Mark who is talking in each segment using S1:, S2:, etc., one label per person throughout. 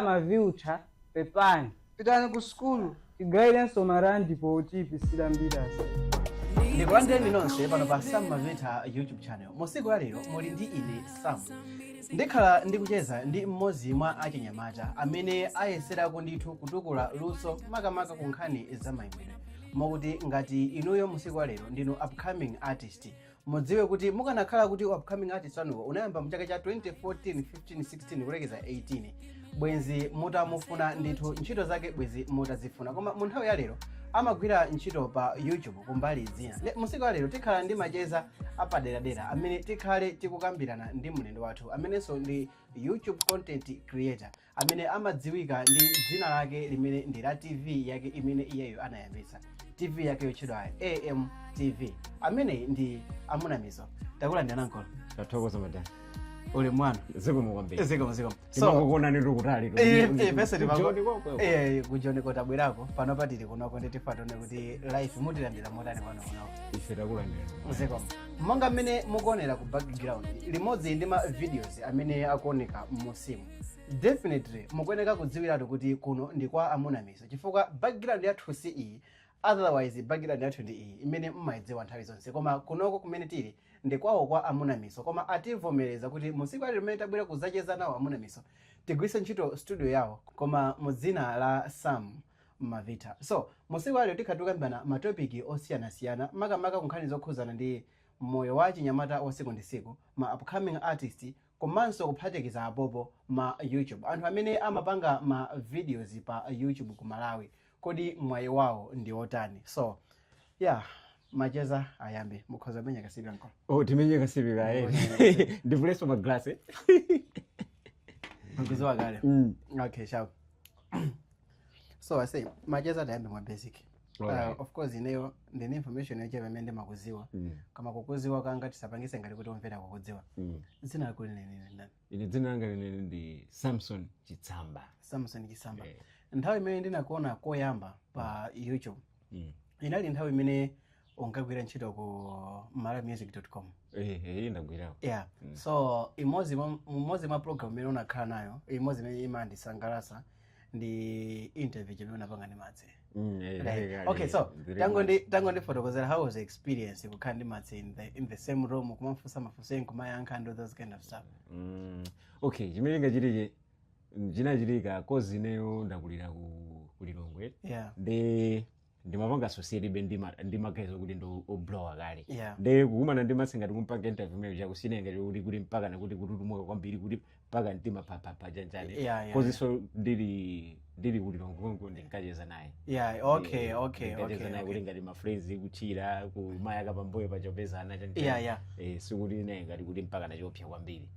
S1: Mukufuna ma view tcha? Pepani. Pitani ku
S2: sukulu. Tigayilenso
S1: ma rand potiyipisira mbirasi. ndikulandireni
S2: nonse pano pa sam mavita youtube channel musiku la lero muli ndi ine sam ndikhala ndikucheza ndi mmodzi mwa achinyamata amene ayeserako ndithu kutukula luso makamaka ku nkhani za mayimbidwe mokuti ngati inuyo musiku la lero ndinu upcoming artist Mudziwe kuti mukanakhala kuti upcoming artist wanuwo unayamba mu chaka cha 2014, 15, 16 kulekeza 18 bwenzi mutamufuna ndithu ntchito zake bwenzi mutazifuna koma mu nthawi ya lero amagwira ntchito pa youtube kumbali zina Le- musiku ya lero tikhala ndi macheza apaderadera amene tikhale tikukambirana ndi mlendo wathu amenenso ndi youtube content creator amene amadziwika ndi dzina lake limene ndi la TV yake imene iyeyo anayambitsa. TV yake yotchedwa AMTV. Amene ndi Amunamiso. Takulandira nkolo. Tathokoza madam.
S3: Uli mwana.
S2: Zikomo kwambiri. Zikomo
S3: zikomo.
S2: Timakuonani
S3: tili kutali.
S2: Pese timakuonani. Eh, kujoni ko tabwerako. Pano patili kunoko ndi tifatone kuti life mutilandira motani pano kunoko. Ife takulandira.
S3: Zikomo.
S2: Monga mmene mukuonera ku background limodzi ndi ma videos amene akuoneka m'musimu. definitely mukuyeneka kudziwiratu kuti kuno ndi kwa amuna miso chifukwa background yathu si iyi otherwise background yathu ndi iyi imene mmayidziwa nthawi zonse koma kunoko kumene tili ndi kwawo kwa amuna miso koma ativomereza kuti musiku ili limene tabwera kudzacheza nawo amuna miso tigwiritse ntchito studio yawo koma mu dzina la sam mavita so musiku ili tikhala tikukambirana matopiki osiyanasiyana makamaka kunkhani zokhudzana ndi moyo wa chinyamata wa siku ndi siku ma upcoming artist Komanso kuphatikiza apopo ma youtube anthu amene amapanga ma videos pa youtube ku Malawi kodi mwayi wawo ndi otani so yeah macheza ayambe mukhoza kumenya kasipi nkolo Oh, timenye
S3: kasipika eh. Ndivuleso ma glass. eh.
S2: mkuziwa kale Mm. okay sharp so i say macheza tayambe mwa basic Alright. Uh, of course ineyo ndine information yochepa imene ndimakuziwa Mm. koma kukuziwa kanga tisapangise ngati kuti omvera akukudziwa Mm. dzina lako lenileni ndani ine dzina langa lenileni
S3: ndi samson chitsamba samson chitsamba
S2: Eh. nthawi imene ndinakuona koyamba pa youtube Mm. inali nthawi imene unkagwira ntchito ku malawimusic.com Eh, eh,
S3: ndagwirako yeah so
S2: imodzi mwa- imodzi mwa program imene unakhala nayo imodzi imene imandisangalasa ndi interview imene unapanga ndi matse Mm, eh, Right. kale, okay so very tango much. ndi tango ndifotokozera how was the experience kukhala ndi matse in the, in the same room kumamfunsa mafunso eni kumayankha and all those kind of stuff Mm,
S3: okay chimene chinachitika chinachitika kozi ineyo ndakulira ku ku lilongwe yeah ndi ndimapanga associate ndi ma- ndi magaye okuti ndi o- oblowa kale Yeah. nde kukumana
S2: ndi Matse
S3: ngati kumpanga interview imene chako sinali ngati kuti mpaka nakuti kututumuka kwambiri kuti mpaka mtima phaphapha chanjani Yeah, yeah, cause-nso ndili ndili ku Lilongwe konko ndinkacheza naye yeah okay
S2: Eh, okay ndinkacheza okay, naye okay.
S3: kuti ngati mafriends kuthira kumayaka pambuyo pachopezana chanjani yeah yeah eh, sikuti
S2: naye
S3: ngati kuti mpaka nachopsa kwambiri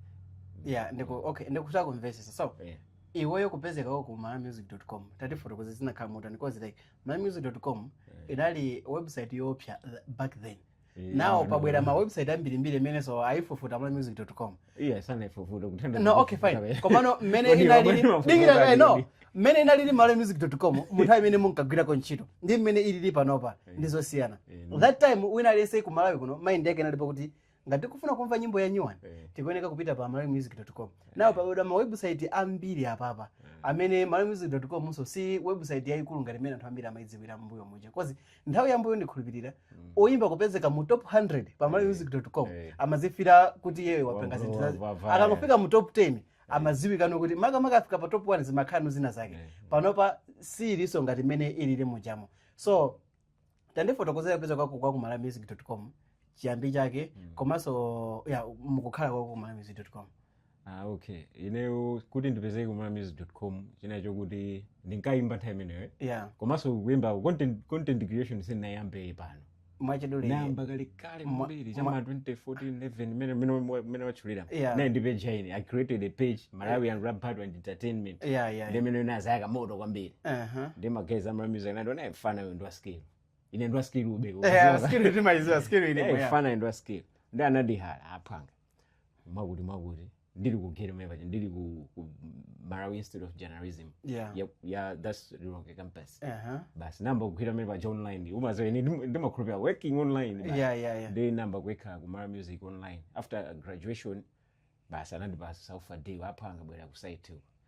S3: yeah
S2: ndiko okay ndikutha kumvesesa so Yeah. iweyo kupezeka kwako ku malawimusic.com tatifotokoze zinakhala motani cause like malawimusic.com inali website yoopsa th- back then Eh, now no, pabwera no. ma website ambirimbiri amenenso ayifufuta malawimusic.com yeah
S3: sanaifufuta kutenda no okay fine
S2: komano mmene Kodi inalili wabwera mafuta dikira kale kali no ndi? mmene inalili malawimusic.com munthawi imene munkagwirako ntchito ndi mmene ilili panopa ndi zosiyana Eh, no. that time wina aliyense ku malawi kuno mind yake inalipo kuti ngati tikufuna kumva nyimbo ya nyuwani Eh. tikuyeneka kupita pa malawimusic.com now pabwera ma website ambiri apapa amene malawimusic.com siinso website yayikulu ngati imene anthu ambiri amayidziwira mbuyo muja cause nthawi yambuyo ndikhulupirira oyimba kupezeka mu top 100 pa malawimusic.com Eh. amazifila kuti iyeyo wapenga Wamva- zinthu zazi wamva- akangofika mu top 10 amaziwikanso kuti makamaka afika pa top 1 zimakhala zina zake Eh. panopa siiliso ngati imene ilili mujamo so tandifotokozera kupezeka kwako kwa kumalawimusic.com chiyambi chake komanso ya mukukhala kwako kumalawimusic.com ah okay
S3: ineyo kuti ndipezeke kumalawimusic.com chinachoka kuti ndinkayimba nthawi imeneyo ya
S2: komanso kuyimba content,
S3: content creation sindinayambe pano mwachidule ndinayamba
S2: kale
S3: kale Mwa- kwambiri mwa- cha m'ma 2014 11 mmene mmene mmene watchulira Yeah. ndinali ndi page
S2: ine i created
S3: a page malawian rap battle and entertainment yeah yeah ndi yeah. imene
S2: inazayaka moto
S3: kwambiri uh-huh. nde magaye a malawi music anandiona eeh mfana uyu ndiwa skill ine ndiwa skill ube yeah skill timaiziwa
S2: skill ile yeah, mfana uyu ndiwa skill
S3: nde anandihala aphwanga mwakuti mwakuti ndili ku geri mmene paja ndili ku, ku malawi institute of journalism Yeah. ya, ya that's lilongwe campus Aha. basi ndinayamba kugwira mene paja online umaziwa ine ndim- ndimakhulupira working online basi. Yeah, yeah, yeah. nde ndinayamba
S2: kuwekha
S3: ku malawi music online after graduation basi anandipasa saufa day apha anga bwera ku site uko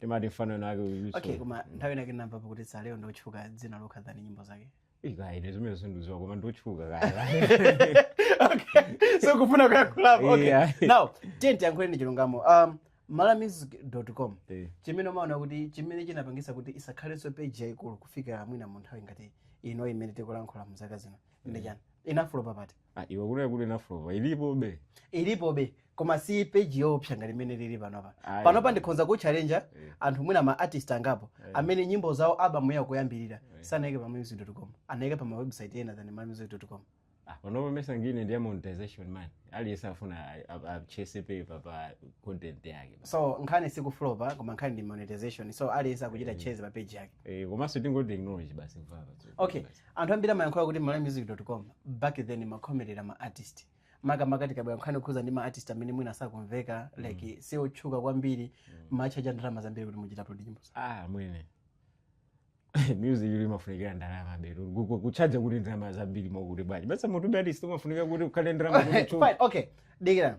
S3: timati mfana wina wake uyiso okay koma nthawi
S2: inake ndinamva pakuti saleo ndotchuka dzina lokha than nyimbo zake ekaine zimene
S3: sindiziwa koma ndotchuka kaya
S2: so kufuna kuyakhulapo okay Yeah. now tiye tiyankhule ndi chilungamo um, malawimusic.com Eh. chimene umaona kuti chimene chinapangisa kuti isakhalenso page yayikulu kufika mwina mu nthawi ngati ino imene tikulankhula mu zaka zino ndi chani inafulopa pati Ah, iwe kunena kuti
S3: inaflopa ilipobe ilipobe koma si peji yoopsa ngati imene lili panopa Ayi. panopa ndikhonza kuchalenja Eh. anthu mwina ma artist angapo Eh. amene nyimbo zawo album yawo kuyambirira Eh. sanayike pa malawimusic.com anayika pa ma website ena than malawimusic.com Ah, panopa mesa ngine ndiye monetization man aliyense afuna a- a- achase paper pa content yake so nkhani sikuflopa
S2: koma nkhani ndi monetization so aliyense akuchita Eh. chase pa page yake Eh, komanso tingoti ignore
S3: basi mvava okay
S2: anthu ambiri amayankhula kuti malawimusic.com back then mumakhomerera ma artist makamaka tikabwera nkhani yokhuza ndi ma artist amene mwina sakumveka like si otchuka kwambiri mumatchaja ndalama zambiri kuti muchite upload nyimbo zawo. ah
S3: mwene music iyi imafunikira ndalamabetu kutchaja kuti ndalama zambiri mwakuti bwanji basi munthu wa artist umafunika kuti ukhale ndi ndalama kuti Fine, okay
S2: dikirani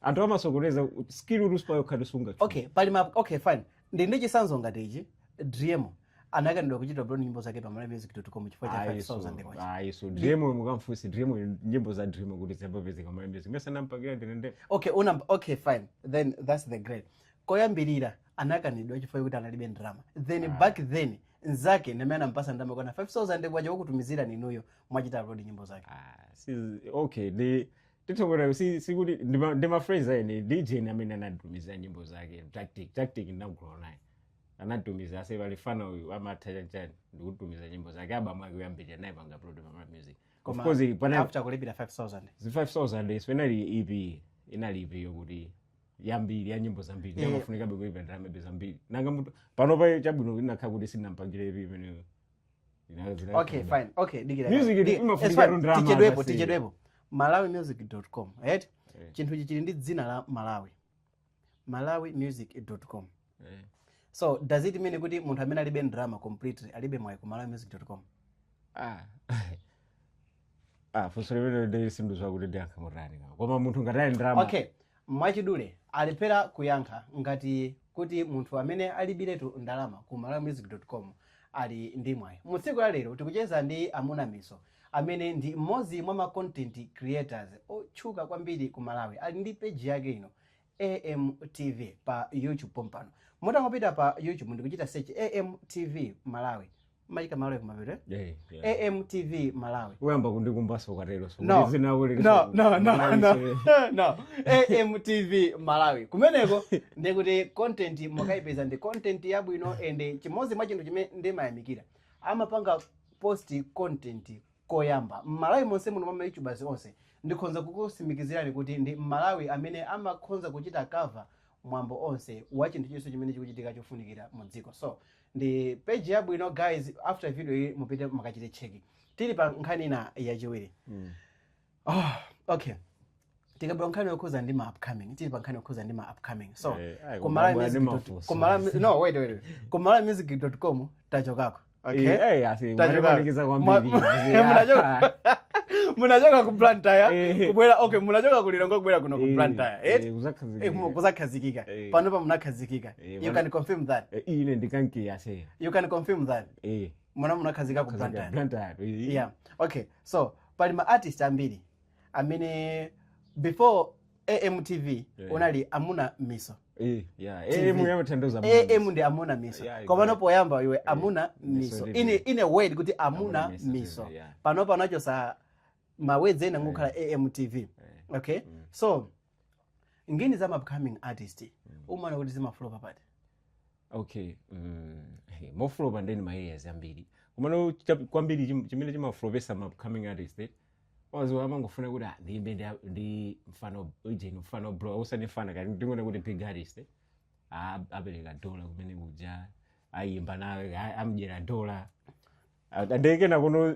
S3: anthu amasokoneza skill rules pa yokha tisunga okay pali ma
S2: okay fine ndili ndi chitsanzo ngati ichi dream anakanidwa kuchita upload nyimbo zake pa malawimusic.com chifukwa cha 5000 kwacha ayi so dream mukamfunse
S3: dream nyimbo za dream kuti ziyambe kupezeka pa malawi music mesa ndinampangira ndine okay una okay
S2: fine then that's the great koyambirira anakanidwa chifukwa kuti analibe ndalama then back then nzake ndamene anampasa ndalama kwana 5000 kwacha kukutumizirani inuyo mwachita upload nyimbo zake Ah, si okay
S3: ndi titha kuona si sikuti ndi ma- ndi ma friends ene dj ni amene anatumiza nyimbo zake tactic tactic ndinayankhula naye anatumiza ase pali fana uyu amatha chanchani ndikutumiza nyimbo zake album yake yoyambirira ndinaipanga upload pa Malawi music of Koma course pana after kulipira
S2: 5000 zi 5000
S3: iso inali ep inali ep yokuti yambiri ya nyimbo zambiri Eh. amafunikabe kulipira ndalamabe zambiri nanga munthu panopa chabwino inakhala kuti sinampangire ep imeneyo Zina-
S2: zina- okay fine okay dikira Music Dikira. iyi imafunika It's fine.
S3: tu ndrama tichedwepo basi.
S2: tichedwepo malawimusic.com right Eh. chinthu ichi chili ndi dzina la malawi malawimusic.com Eh. so does it mean kuti munthu amene alibe ndrama completely alibe mwayi ku malawimusic.com Ah.
S3: Ah, funso limenelo sindidziwa kuti ndiyankha motani kama. Koma munthu ngati alibe ndalama. okay mwachidule
S2: alephera kuyankha ngati kuti munthu amene alibiretu ndalama ku malawimusic.com ali ndi mwayi mu tsiku la lero tikucheza ndi amuna miso amene ndi mmodzi mwa ma content creators otchuka kwambiri ku malawi ali ndi peji yake ino AMTV pa YouTube pompano. Mutangopita pa YouTube ndikuchita search AMTV Malawi. Maika Malawi kumapeto. Eh? Yeah. AMTV Malawi. Uyamba kundikumbaso
S3: ukatero so. No. Zina uli. No,
S2: no, no, no. no. AMTV Malawi. Kumeneko ndikuti content mukakaipeze ndi content yabwino and chimodzi mwa chinthu chimene ndimayamikira. Amapanga post content Koyamba, m'Malawi monse muno mwa ma Youtubers onse, ndikhonza kukusimikizirani kuti ndi m'Malawi amene amakhonza kuchita cover mwambo onse wa chinthu chilichonse chimene chikuchitika chofunikira mu dziko. So, ndi page yabwino guys, after video iyi mupite mukaichite check. Tili pa nkhani ina yachiwiri. oh, okay tikabwera nkhani yokhuza ndi ma upcoming tili pa nkhani yokhuza ndi ma upcoming so eh, eh, kumalawimusic.com tachokako munachoka ku Blantyre kubwera okay munachoka ku Lilongwe kubwera kuno ku Blantyre eh kuzakhazikika panopa munakhazikika you can confirm that ine ndikankiya
S3: say you can confirm that
S2: eh mwana munakhazika ku Blantyre
S3: yeah okay
S2: so pali ma artist ambiri amene before amtv Yeah. inali amuna miso Eh, yeah. TV. Eh, mwe amathandiza mwe. am ndi amuna miso Yeah, komano exactly. poyamba iwe amuna miso Miso TV. in, ine word kuti amuna Amuna miso miso TV, yeah. panopa anachosa mawedzi ena n'kungokhala amtv okay so ngini za ma upcoming artist umaona kuti zimaflopa pati
S3: okay mm, hey, imaflopa ndeni ma areas ambiri komano cha- kwambiri chim- chimene chimaflopesa ma upcoming artist eh, wazo amangofuna kuti ah, ndiyimbe ndi- ndi mfana ujeni mfana bro osati mfana kuti ndingoona kuti big artist eh, ah, apereka dola kumene kuja ayimba nawe ah, amdyera dola Ah, ndekena kuno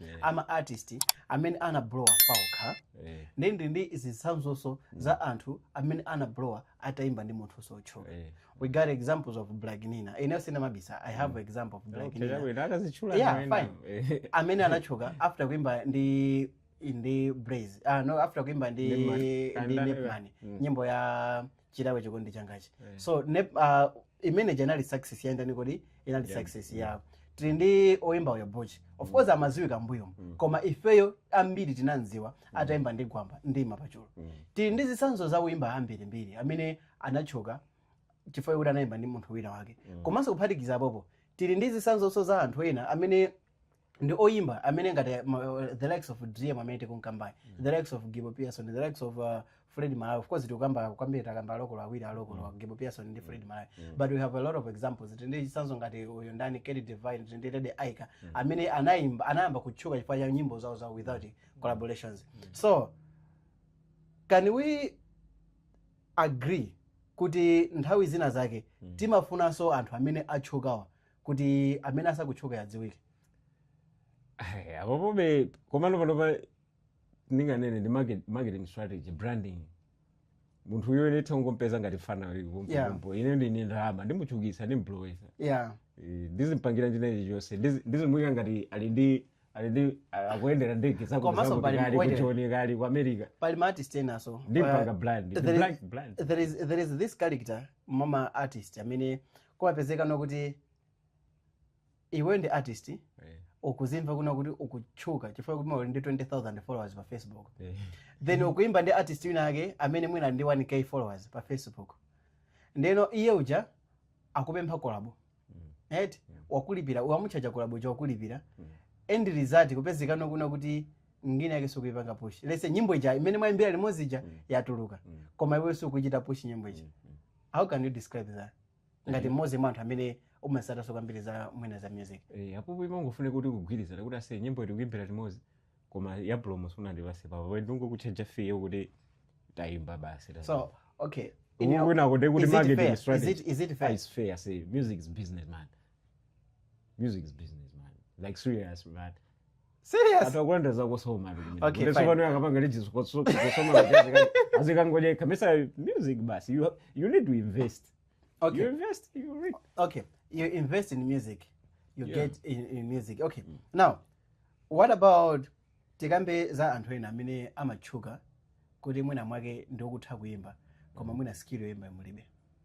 S2: yeah. a ma artist amene ana blowa paokha yeah. ndi ndi ndi zitsanzonso mm. za anthu amene ana blowa ataimba ndi munthu sotchuka yeah. we got examples of black nina ine sina mabisa i have mm. example of black okay, nina ndikazitchula yeah, fine eh. amene anatchuka after kuimba ndi ndi blaze ah no after kuimba ndi ndi nepman mm. nyimbo ya chilawe chikondi changachi Eh. so ne, uh, imene janali success yayendani kodi inali Yeah. success yawo tili ndi oyimba uyu bochi of course amaziwika mbuyo Mm. koma ifeyo ambiri tinamziwa atayimba ndi gwamba ndi macheluba Mm. tili ndi zitsanzo za oyimba ambirimbiri amene anatchuka chifukwa kuti anayimba ndi munthu wina wake Mm. komanso kuphatikiza apopo tili ndi zitsanzonso za anthu ena amene ndi oyimba amene ngati eh, ma- eh, the likes of driemo amene tikunkambayu the likes of gibo pearson the likes of uh, fred malawi of course tikukamba kwambiri takamba a lokolo awiri a lokolo gibo pearson ndi fred malawi but we have a lot of examples tindi zisanzo ngati uyu ndani kelly divine tindi lady aika amene anayimba anayamba kutchuka chifukwa cha nyimbo zawo zawo without collaborations so can we agree kuti nthawi zina zake timafunanso anthu amene atchukawa kuti amene asakutchuka adziwike
S3: Ai, apapobe komano panopa ndinganene ndi market- marketing strategy branding munthu uyo ine ntangompeza ngati fana Yeah. kumpompo ine ndi ndalama ndimutchukisa ndimblowesa yeah ndizimpangira china chilichonse ndizi- ndizimuyika ngati ali ndi ali ndi a- akuyendera ndege Komanso pali zakuti kali mkwete. kuchoni kali ku america pali ma artist enaso
S2: Ndimpanga Uh, brand, the
S3: there is- black brand. there is-
S2: there is this character mwa ma artist amene kumapezeka nokuti iwe ndi artist eh. ukuzimva kuna kuti ukutchuka chifukwa kuti uli ndi 20000 followers pa facebook eh. then ukuimba ndi artist wina ake amene mwina ndi 1k followers pa facebook ndeno iye uja akupempha kolabo mm. right mm. wakulipira wamuchaja kolabo uja wakulipira mm. end result kupezeka nokuna kuti nyimbo yake sukuipanga push lese nyimbo ija imene mwaimbira limodzi ija yatuluka koma iwe sukuchita push nyimbo ija how can you describe that ngati mmodzi mwa anthu amene umasatanso kwambiri za mwina za music Eh, apopo
S3: imangofunika kuti kugwirizana kuti ase nyimbo tikuimbira limodzi koma ya promo sunandipatse apapa ndangokutchaja fee yo kuti tayimba basi tayimba. so
S2: okay in Uku your- kwina
S3: kuti kuti is it marketing fair? Is strategy. it- is it Ah, fair? it's fair I
S2: say music
S3: is business man music is business man like serious man serious
S2: anthu akulanda zakusoma
S3: ali kumene. Okay, Ndipo fine. pano
S2: akapanga
S3: liji zikotso- zikosoma kuti azika- azikangoja kamisa music basi you, ha- you need to invest you okay invest
S2: you
S3: reap okay you invest
S2: in music you Yeah. get in, in music okay now what about tikambe za anthu ena amene amatchuka kuti mwina mwake ndikutha kuimba koma mwina skill yoimba mulibe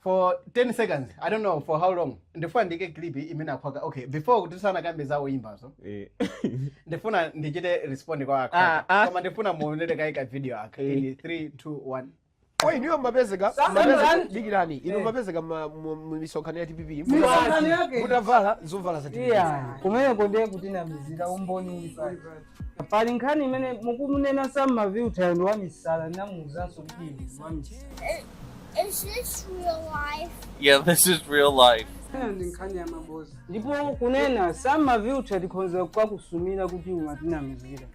S2: for 10 seconds i don't know for how long ndifuna ndiike clip imene akhwaka okay before kuti sanakambe za oyimbazo Eh. ndifuna ndichite respond kwa Ah, ah. akhwaka koma ndifuna muonere kaye ka video aka Eh. in 3 2 1 Oyi inuyo
S4: mumapezeka Sasa mapezeka- ndani? dikirani inu mumapezeka ma- mu- mu misonkhano ya DPP Misonkhano yake.
S1: mutavala zovala za
S4: DPP. iya kumeneko ndiye
S1: kutinamizira umboni uli pati Pali nkhani imene mukumunena Sam Mavilthayo ndi ya misala ndinamuuzanso kuti inu ndi wamisala.
S5: I- Is this real life? Yeah, this is
S6: real life. Ena ndi nkhani ya
S1: maboza. Ndipo kunena Sam Maviltha tikhonza kukakusumira kuti umatinamizira.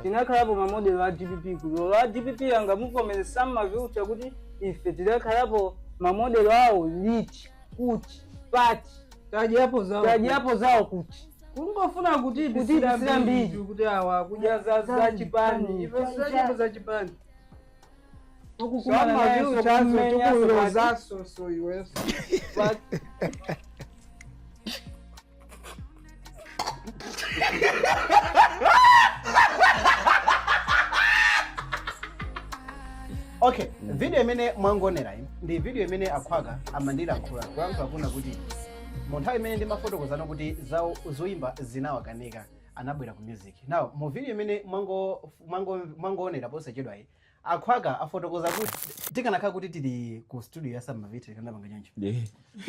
S1: Tinakhalapo mamodelo a DPP kuti olo a DPP angamuvomere Sam Maviltha kuti ife tidakhalapo mamodelo awo liti kuti pati Tadyapo zawo. tadyapo zawo kuti kungofuna kutiipitsira mbiri kuti awa akudya za za chipani ife sizachepo za chipani samaziuchazo tikulozaso so
S2: iweso okay video imene mwangonera iyi ndi video imene akhwaka amandilankhula kulankhula kuna kuti mu nthawi imene ndimafotokozano kuti zoyimba zinawakanika anabwera ku music now mu video imene mwango- mwango- mwangoonera posachedwayi akhwaka afotokoza kuti tikanakhala kuti tili ku studio ya sam mavita tikanapanga choncho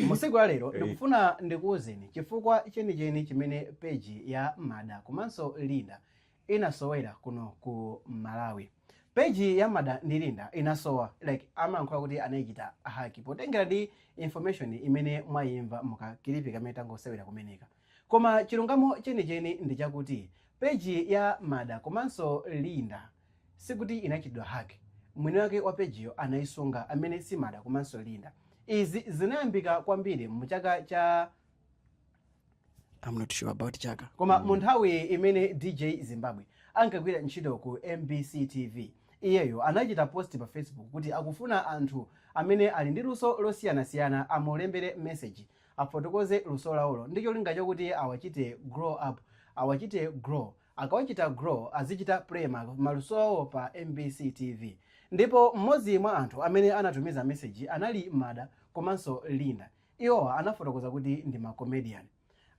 S2: musiku ya lero ndikufuna ndikuwuzeni chifukwa chenicheni chimene peji ya mada komanso linda inasowera kuno ku malawi page ya mada ndi linda inasowa like amayankhula kuti anaichita haki potengera ndi information imene mwayimva mu kakilipi kamene tangosewera kumeneka koma chilungamo chenicheni ndi chakuti page ya mada komanso linda sikuti inachitidwa haki mwini wake wa pejiyo anayisunga amene si mada komanso linda izi zinayambika kwambiri mu chaka cha I'm not sure about chaka koma mu nthawi imene dj zimbabwe ankagwira ntchito ku mbc tv iyeyo anachita post pa facebook kuti akufuna anthu amene ali ndi luso losiyanasiyana amulembere message afotokoze luso lawolo ndi cholinga chakuti awachite grow up awachite grow akawachita grow azichita play ma- maluso awo pa mbc tv ndipo mmodzi mwa anthu amene anatumiza message anali mada komanso linda Iwowa anafotokoza kuti ndi ma comedian.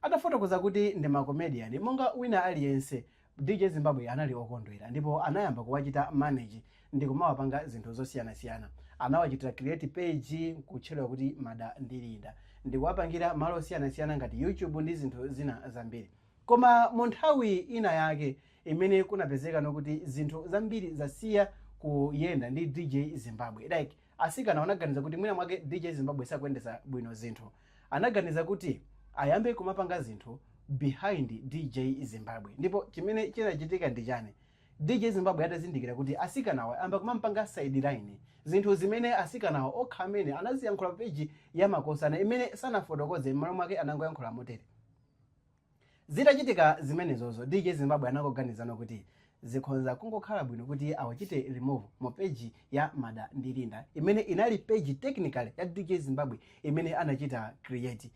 S2: Atafotokoza kuti ndi ma comedian, monga wina aliyense, DJ Zimbabwe anali okondwera ndipo anayamba kuwachita manage ndikumawapanga zinthu zosiyanasiyana. Anawachitira create page kutchedwa kuti Mada ndi Linda ndikuwapangira malo osiyanasiyana ngati YouTube ndi zinthu zina zambiri. Koma mu nthawi ina yake imene kunapezekano kuti zinthu zambiri zasiya kuyenda ndi DJ Zimbabwe like. Atsikanawo anaganiza kuti mwina mwake DJ Zimbabwe sakuyendetsa bwino zinthu. Anaganiza kuti ayambe kumapanga zinthu behind DJ Zimbabwe. Ndipo chimene chinachitika ndi chani? DJ Zimbabwe atazindikira kuti atsikanawa ayamba kumampanga sideline, zinthu zimene atsikanawa okha amene anaziyankhula pa page ya Makosana imene sanafotokoze m'malo mwake anangoyankhula motere. Zitachitika zimenezozo DJ Zimbabwe anangoganizano kuti zikhonza kungokhala bwino kuti awachite remove mu page ya Mada ndi Linda imene inali page technically ya DJ Zimbabwe imene anachita create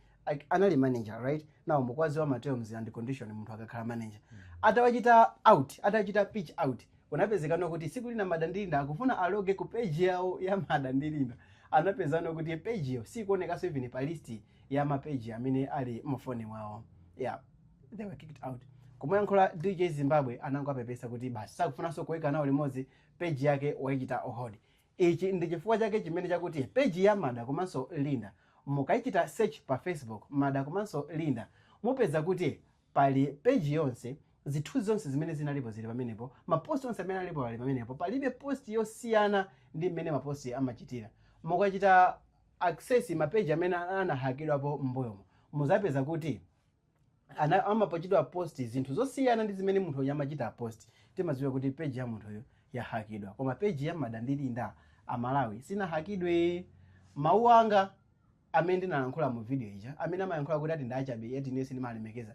S2: anali manager right now mukudziwa ma terms and condition munthu akakhala manager atawachita out atachita pitch out kunapezekano kuti tsiku lina Mada ndi Linda akufuna aloge ku page yawo ya Mada ndi Linda anapezano kuti page yo sikuonekanso even pa list ya mapeji amene ali mufoni mwawo yeah they were kicked out kumuyankhula dj zimbabwe anangowapepesa kuti basi sakufunanso kuweka nawo limodzi peji yake wayichita on hold ichi ndi chifukwa chake chimene chakuti peji ya mada komanso linda mukayichita search pa facebook mada komanso linda mupeza kuti pali peji yonse zithunzi zonse zimene zinalipo zili pamenepo maposti onse amene alipo ali pamenepo palibe posti yosiyana ndi mmene maposti amachitira mukachita access ma page amene anahakidwapo m'mbuyomo muzapeza kuti amapachitidwa post zinthu zosiyana ndi zimene munthuyo amachita post timadziwa kuti page ya munthuyo yahakidwa koma page ya mada ndi linda amalawi sinahakidwe mawu anga amene ndinalankhula mu video ija amene amayankhula kuti ati ndachabe eti ine sindimalemekeza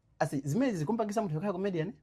S2: Asi zimenezi zikumpangisa munthu yokhala comedian?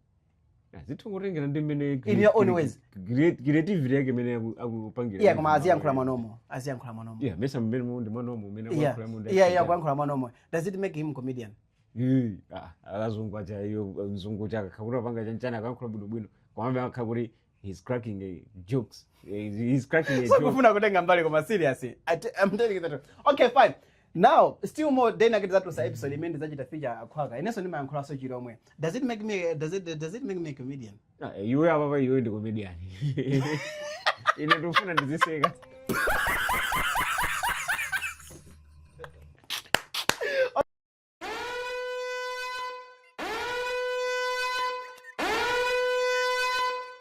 S2: zitongotengera
S3: ndi mmene In your own ways.
S2: creat- creativity yake
S3: imene aku- akupangira Iya koma aziyankhula mwanomo,
S2: aziyankhula mwanomo. yeah mesa
S3: mmene mu ndi mwanomo umene Yeah. akuyankhula mu ndi Yeah, yeah, kuyankhula
S2: mwanomo. Does it make him comedian? Eh, ah,
S3: akazungu aja iyo mzungu uja akakhakuti apanga chanchani akayankhula bwinobwino kwambe akakhakuti he's cracking eh, jokes Eh, he's cracking a joke sakufuna kutenga mbali
S2: koma serious I t- I'm telling you the truth. okay fine now still more then ndikadzatulutsa episode imene ndizachita feature akhwaka inenso ndimayankhulanso chilomwe does it make me does it, does it make me a comedian Ah, iwe
S3: apapa iwe ndi comedian ine ndikufuna ndiziseka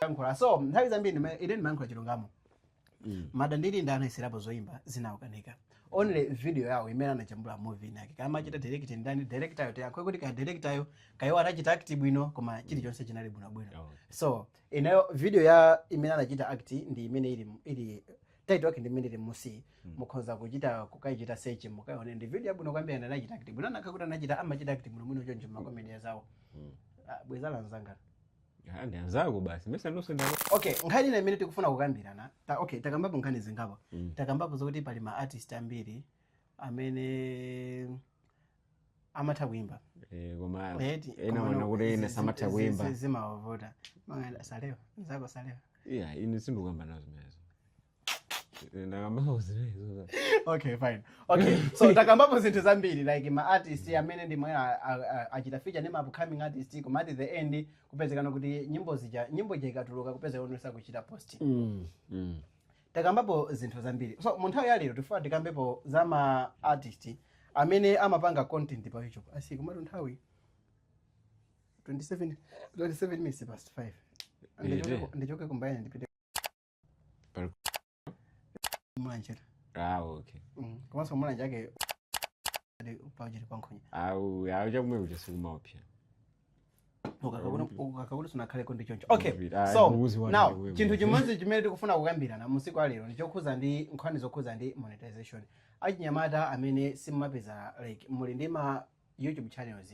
S2: yankhula so nthawi zambiri ndima- ine ndimayankhula chilungamo mada ndili ndi anayeserapo zoyimba zinaukanika only video yawo imene anajambula movie inake kaya amachita direct ndani director yo tangokhala kuti kaya director yo kaya iwo anachita act bwino koma chilichonse chinali bwinobwino so inayo video yo imene anachita act ndi imene ili ili title yake ndi imene ili mmusi mukhoza kuchita kukaichita search mukaone ndi video yabwino kwambiri ana anachita act bwino ngakhale kuti anachita amachita act bwino bwino choncho makomedi azawo Ah, bweza lanzanga Ah, ndi
S3: anzako basi mesa ndonse ndalo okay nkhani ina
S2: imene tikufuna kukambirana ta, okay takambapo nkhani zingapo takambapo zokuti pali ma artist ambiri amene amatha kuimba Eh, koma
S3: Eti, ena koma ena onena kuti zi- ena zi- samatha zi- kuimba zi-
S2: zimawavuta Mang'anda, salewa mzako salewa iya ine sindikukamba
S3: nazo zimenezo Eh, ndakambapo zimenezo okay
S2: fine okay so takambapo zinthu zambiri like ma artist amene ndima a- a- a- achita feature ndi ma upcoming artist koma at the end kupezekana kuti nyimbo nyimbo ija ikatuluka kupezeka kuti sakuchita post Mm, mm. takambapo zinthu zambiri so mu nthawi ya lero tifuna tikambepo za ma artist amene amapanga content pa youtube asi komatu nthawi 27 27 minutes past 5 Ndichoke- ndichoke kumbayani ndipite Pali- Mulanje ah okay Mm,
S3: komanso Mulanje
S2: yake ade upawajiri pankhonya awu awu chakumwe
S3: kuja sikumaopsa
S2: ukukhala ngati sunakhaleko ndi choncho okay Ndipita. Ah, so mbuzi wanu now ndiwe chinthu mbuzi. chimodzi chimene tikufuna kukambirana musiku alero ndi chokhuza ndi nkhani zokhuza ndi monetization achinyamata amene simumapeza like muli ndi ma youtube channels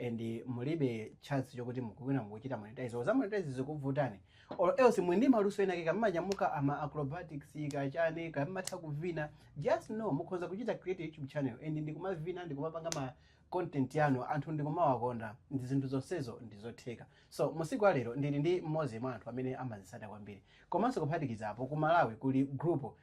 S2: and mulibe chance chokuti mukuwina mukuchita monetize or za monetize zikuvutani or else muli ndi maluso enaake kaya mumanyamuka ama acrobatics kaya chani kaya mumatha kuvina just know mukhoza kuchita create youtube channel and ndikumavina ndikumapanga ma content yanu anthu ndikumawakonda ndi zinthu zonsezo ndizotheka so musiku alero ndili ndi mmodzi mwa anthu amene amazisata kwambiri komanso kuphatikizapo ku malawi kuli group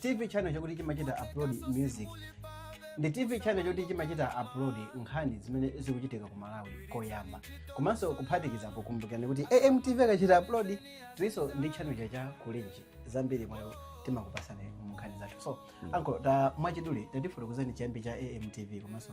S2: tv channel chakuti chimachita upload music ndi tv channel choti chimachita upload nkhani zimene zikuchitika ku malawi koyamba komanso kuphatikizapo kumbukirani kuti amtv akachita upload tilinso ndi channel chacha kulenji zambiri mwayo timakupasani mu nkhani zathu so ankolo mwachidule tatifotokozani chiyambi cha amtv komanso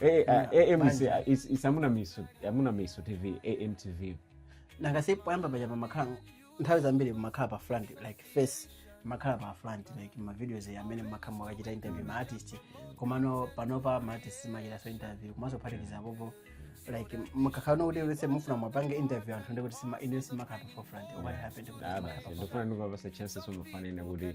S3: Eh, ah, AMC, ah, it's- it's amuna miso amuna miso tv amtv nangase
S2: poyamba paja mumakhala nthawi zambiri mumakhala pa front like face mumakhala pa front like mavideos amene mumakhala mukuchita interview ma artist komano panopa ma artist mumachitaso interview komanso kuphatikiza apopo like mukakhala kuti lese mufuna muwapange interview anthu ndikuti sima ine simukhala pa forefront what happened kuti Ah, simakhala basi pa ndofuna ndikupasa
S3: chances umafanira kuti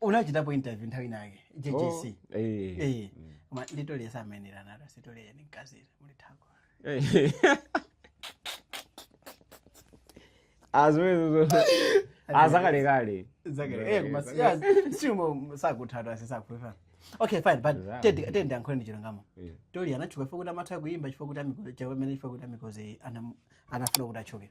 S2: unachitapo interview nthawi inayake jjc Oh, eh. Eh, koma ndi tolia samenera nato si tolia ni mkazira muli thako
S3: Eh. azwezo azakalekale Exactly. Eh, koma
S2: si- yeah, siumo sakuthatwa sizakufuna okay fine but Zama. tandiyankhuleni chilungamo Yeah. tolia anatchuka chifukwa kuti amatha kuimba chifukwa kuti amiko- chifukwa amene chifukwa kuti amikozi anam- anafuna kuti atchuke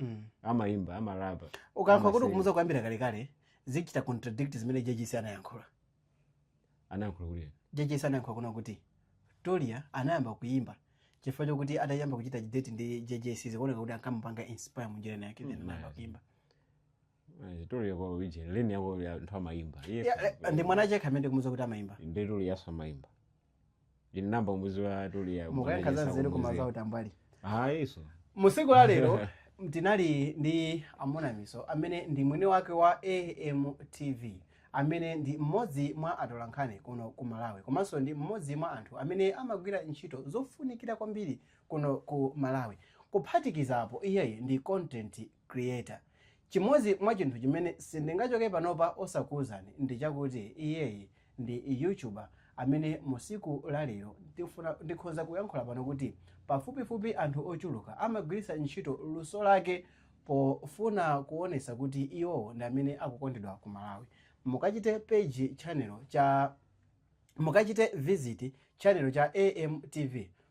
S3: Mm. amaimba amarapa ukuyankhula kuti Amasewera.
S2: kumudziwa kuyambira kalekale zichita contradict zimene jjc anayankhula
S3: anayankhula kuti jjc anayankhula
S2: kuna kuti tolia anayamba kuyimba chifukwa chokuti atayamba kuchita date ndi jjc zikuoneka kuti ankamupanga inspire munjira inayake Mm, then anayamba yeah. kuyimba
S3: Tolia yako uje leni yako ya ntwa maimba. Yes. Yeah, eh, ndi
S2: mwana yekha amene kumuza kuti amaimba Ndi tolia yemwe amaimba.
S3: Ine ndayamba kumudziwa tolia. mukuyankha za nzeru koma
S2: za utambwali Ah, iso.
S3: musiku la
S2: lero tinali ndi amunamiso amene ndi mwini wake wa amtv amene ndi mmodzi mwa atolankhani kuno ku malawi komanso ndi mmodzi mwa anthu amene amagwira ntchito zofunikira kwambiri kuno ku malawi kuphatikizapo iyeyi ndi content Creator. Chimodzi mwa chinthu chimene sindingachoke panopa osakuuzani ndi chakuti iyeyi ndi YouTuber amene mu siku la lero ndikhonza kuyankhula pano kuti pafupifupi anthu ochuluka amagwiritsa ntchito luso lake pofuna kuonetsa kuti iwowo ndi amene akukondedwa ku Malawi. Mukachite page channel cha Mukachite visit channel cha AMTV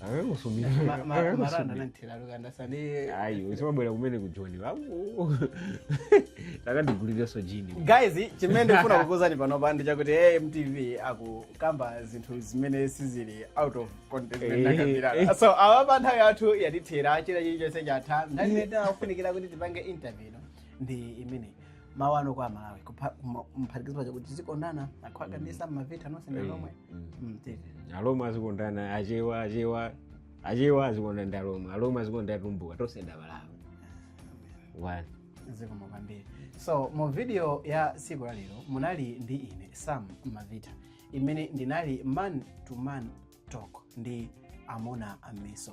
S3: akakusumira Ma- ma- maranda
S2: akakusumira nanthera lukanda sani ayi usamabwera
S3: kumene kujoni wako ukandigulireso jini guys chimene ndikufuna
S2: kukuuzani panopa ndi chakuti amtv akukamba zinthu zimene sizili out of context Eh. nakambirana so awa pa nthawi yathu yatithera china chilichonse chatha nthawi imene tinafunikira kuti tipange interview ino ndi imeneyi mawu anu kwa aMalawi kupha- kuma- kumaphatikiza chakuti tizikondana akhwaga ndi Sam Mavita nonse ndi alomwe Mm, tiri.
S3: alomwe azikondana achewa achewa achewa azikondana ndi alomwe alomwe azikondana atumbuka tonse ndi amalawi one
S2: zikomo kwambiri so mu video ya tsiku la lero munali ndi ine Sam Mavita imene ndinali man to man talk ndi Amuna Miso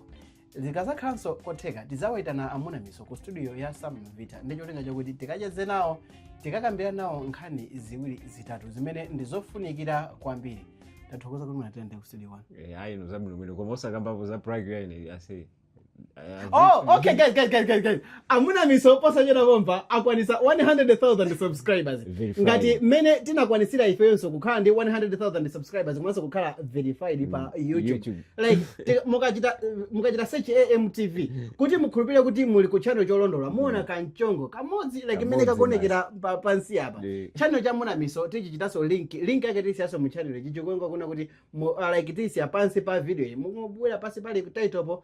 S2: Zikazakhalanso kotheka, tidzawaitana Amuna Miso ku studio ya Sam Mavita ndi cholinga chakuti tikacheze nawo, tikakambirane nawo nkhani ziwiri zitatu zimene ndi zofunikira kwambiri. Tathokoza kuti munatende ku studio one. Eh, ayi no zabwino bwino
S3: koma osakambapo za prank ya ine ase Oh,
S2: okay, guys, guys, guys, guys, guys. Amuna Miso posachedwa pompa akwanisa 100,000 subscribers Verified. ngati mmene tinakwanisira ifeyonso kukhala ndi 100,000 subscribers komanso kukhala verified pa youtube, YouTube. like ti- mukachita mukachita search AMTV kuti mukhulupirire kuti muli ku channel cholondola muona kanchongo kamodzi like mmene Kamodzi kakuonekera pa- pansi apa Ndi- channel cha Amuna Miso tichichitanso link link yake tisiyanso mu channel ichi chikuoneka kuno kuti mu- ah, like tisiya pansi pa video iyi mukabwera pansi pali title po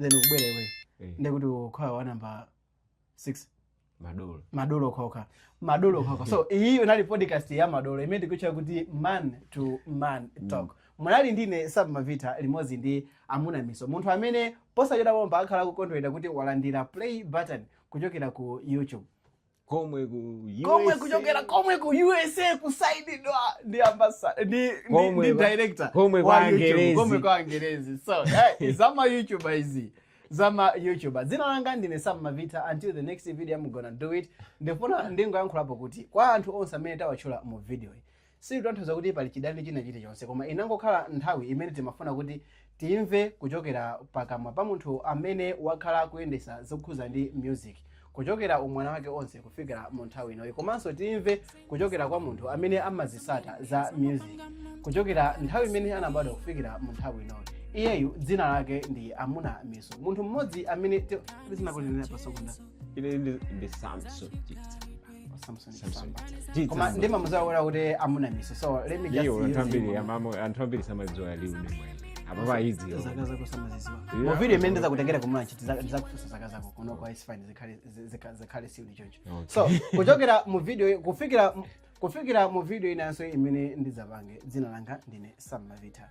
S2: then ukubwera iweyo Eh. ndiye kuti ukhala wa namba 6 madolo madolo okhaokha madolo okhaokha so iyi inali podcast ya madolo imene tikutcha kuti man to man talk munali ndine Sam Mavita limodzi ndi Amuna Miso munthu amene posachedwa pompa akhala akukondwerera kuti walandira play button kuchokera ku youtube
S3: komwe ku komwe USA, kuchokera komwe ku
S2: usa kusainidwa ndi ambassador ndi, ndi, Komwe ndi kwa- director komwe wa kwa YouTube, Angerezi.
S3: komwe kwa angerezi so eh, zama
S2: youtuber izi zama youtuber dzina langa ndine Sam Mavita until the next video I'm gonna do it ndifuna ndingoyankhulapo kuti kwa anthu onse amene tawatchula mu video iyi Sizikutanthauza kuti pali chidani china chilichonse, koma inangokhala nthawi imene timafuna kuti timve kuchokera pakamwa pa munthu amene wakhala akuyendetsa zokhuza ndi music kuchokera umwana wake onse kufikira mu nthawi inoyi, komanso timve kuchokera kwa munthu amene amazisata za music kuchokera nthawi imene anabadwa kufikira mu nthawi inoyi. Iyeyu dzina lake ndi Amuna Miso, munthu mmodzi amene ti- zinakulinena pa Sokonda. Ine ndi ndi
S3: Samson Chitsa. Samson
S2: Samson. Samba. Chitsa koma Samba. ndimamuzolowera kuti Amuna Miso so let me just Iyo, anthu use ambiri him. amamu- anthu
S3: ambiri samadziwa real name apapa ayidziwa zaka zako samaziziwa
S2: Yeah. mu video imene ndizakutengera ku Mulanje ndizakufunsa zaka zako kunoko is fine zikhale- zi- zikha- zikhale siuli choncho Okay. so kuchokera mu video kufikira kufikira mu video inanso imene ndidzapange dzina langa ndine Sam Mavita